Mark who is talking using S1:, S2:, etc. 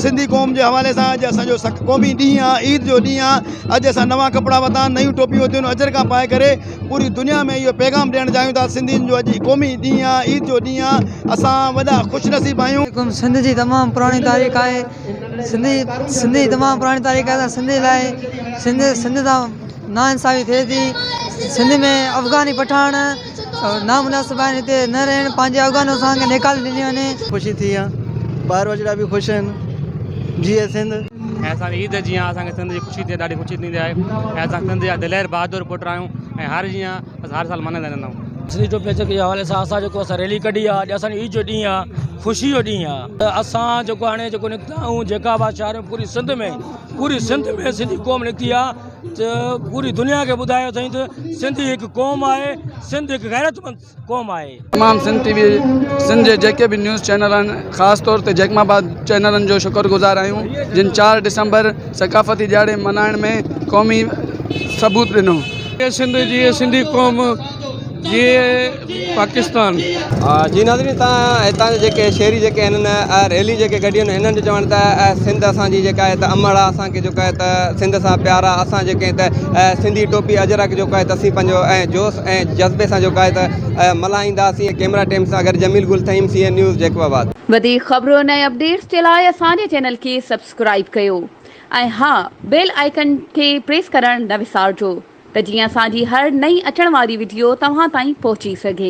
S1: سنڌي قوم جي حوالي سان اڄ اسان جو قومي ڏينهن آ عيد جو ڏينهن آ اڄ اسان نوان ڪپڙا ورتا نيون ٽوپيون ورتيون اجرڪا پائي ڪري پوري دنيا ۾ اهو پيغام ڏيڻ چاهيون ٿا سنڌين جو اڄ قومي ڏينهن آ عيد جو ڏينهن آ اسان وڏا خوش نصيب آهيون. سنڌ جي تمام پراڻي
S2: تاريخ آهي سنڌي سنڌي تمام پراڻي تاريخ آهي سنڌي لاء سنڌ سنڌ سان نا انصافي ٿئي ٿي سنڌ ۾ افغاني پٺاڻ نامناسب آهن هتي نه رهڻ پنهنجي افغانستان کي نيڪال ڏني وڃي. خوشي ٿي آ
S3: ٻار ٻچڙا به خوش آهن جيئي سنڌ. ۽ اسان کي عيد
S4: جيان اسان کي سنڌ جي خوشي ٿئي ڏاڍي خوشي ٿيندي آهي ۽ اسان سنڌ جا دلير بهادر پٽ آهيون ۽ هر جيان اسان هر سال ملهائيندا رهندا آهيون. سنڌ جي پيچڪي جي حوالي
S5: سان اسان جيڪو اسان ريلي ڪڍي آ اڄ اسان جي عيد جو ڏينهن آ خوشي جو ڏينهن آ ته اسان جيڪو هاڻي جيڪو نڪتا آهيون جيڪا به شاعري پوري سنڌ ۾ پوري سنڌ ۾ سنڌي قوم نڪتي آ. ته پوري دنيا کي ٻڌايو اٿئين ته سنڌي هڪ قوم آهي سنڌ هڪ غيرتمند قوم آهي. تمام سنڌ ٽي وي
S3: سنڌ جي جيڪي به نيوز چينل آهن خاص طور تي جيڪم آباد چينلن جو شڪر گذار آهيون جن چار ڊسمبر ثقافتي ڏيهاڙي ملهائڻ ۾ قومي ثبوت ڏنو. جي سنڌ جي
S6: سنڌي قوم جي. پاڪستان. جي
S7: ناظرين تان هتان جي جيڪي شهري جيڪي هن ريلي جيڪي ڪڍي هن هنن جو چوڻ ته سنڌ اسان جي جيڪا هت امڙ آ اسان کي جيڪا هت سنڌ سان پيار آ اسان جيڪي هت سنڌي ٽوپي اجرڪ جيڪا هت اسين پنهنجو ۽ جوش ۽ جذبي سان جيڪا هت ملهائيندا سين ڪيمرا ٽيم سان گڏ Jamil Gul Thaheem C N news Jacobabad. وڌيڪ خبرون
S8: ۽ اپڊيٽس جي لاء اسان جي چينل کي سبسڪرائيب ڪيو. ۽ ها بيل آئيڪن کي پريس ڪرڻ نه وسارجو ته جيئن اسان جي هر نئين اچڻ واري وڊيو توهان تائين پهچي سگهي.